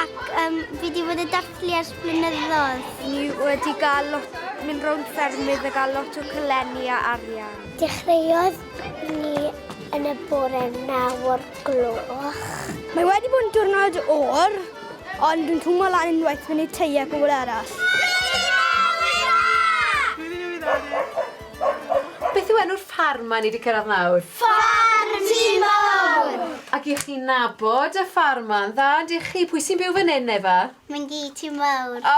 Ac um, fi wedi bod yn dathlu ers blynyddoedd. Ni wedi gael lot, mynd rownd ffermydd a gael lot o cylenni a arian. Dechreuodd ni yn y bore naw o'r gloch. Mae wedi bod yn diwrnod o'r, ond dwi'n twmo lan unwaith fyny tei a pobl arall. Beth yw enw'r ffarm ma ni wedi cyrraedd nawr? Ffarm Timor! Ac i chi nabod y ffarm ma yn dda dych chi? Pwy sy'n byw fan hyn Efa? Myngi Timor. O!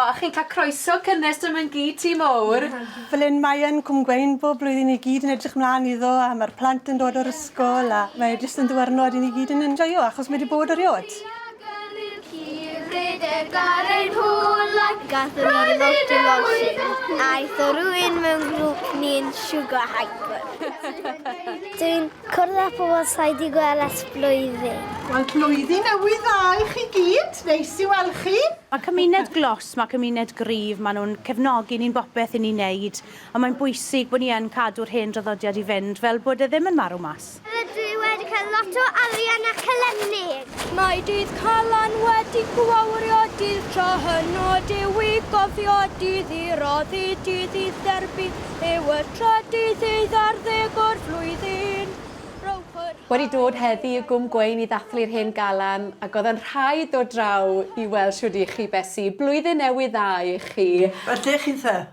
A chi'n cael croeso cynnes da Myngi Timor. Fel hyn mae yn Cwm Gweun bob blwyddyn ni gyd yn edrych mlan iddo a mae'r plant yn dod o'r ysgol a mae e jyst yn ddiwrnod i ni gyd yn enjoio achos mae 'di bod erioed. Hyfryd ef gar ein hwlag. Gathon ni lot o losin. Aeth o rwy'n mewn grŵp ni'n siwgo hyper. Dwi'n cwrdd â pobl sa'i di gweld ers blwyddyn. Wel blwyddyn newydd dda i chi gyd, neis i weld chi. Mae cymuned glos, mae cymuned gryf, maen nhw'n cefnogi ni'n bopeth i ni'n neud, ond mae'n bwysig bod ni yn cadw'r hen draddodiad i fynd fel bod e ddim yn marw mas. Rydw i wedi cael lot o arian a celennid. Mae dydd Calan wedi gwawrio dydd tro hynno Dyw i gofio dydd i roddi dydd i therbu Yw y tro dydd i ddarddeg o'r flwyddyn Wedi dod heddi i Gwm Gwein i ddathlu'r hen galan ac oedd yn rhaid dod draw i weld shwd i chi Besi. Blwyddyn Newydd Dda i chi. Ydych chi'n dda?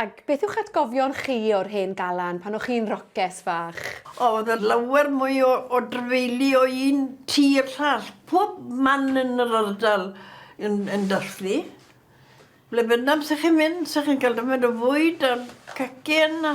Ac beth yw'ch atgofion chi o'r hen galan pan o'ch chi'n roces fach? O, oedd e lawer mwy o o drafeilu o un tŷ i'r llall. Pob man yn yr ardal yn yn dathlu. Ble bynnag 'sa chi'n mynd, 'sa chi'n cael dymed o fwyd a cacen a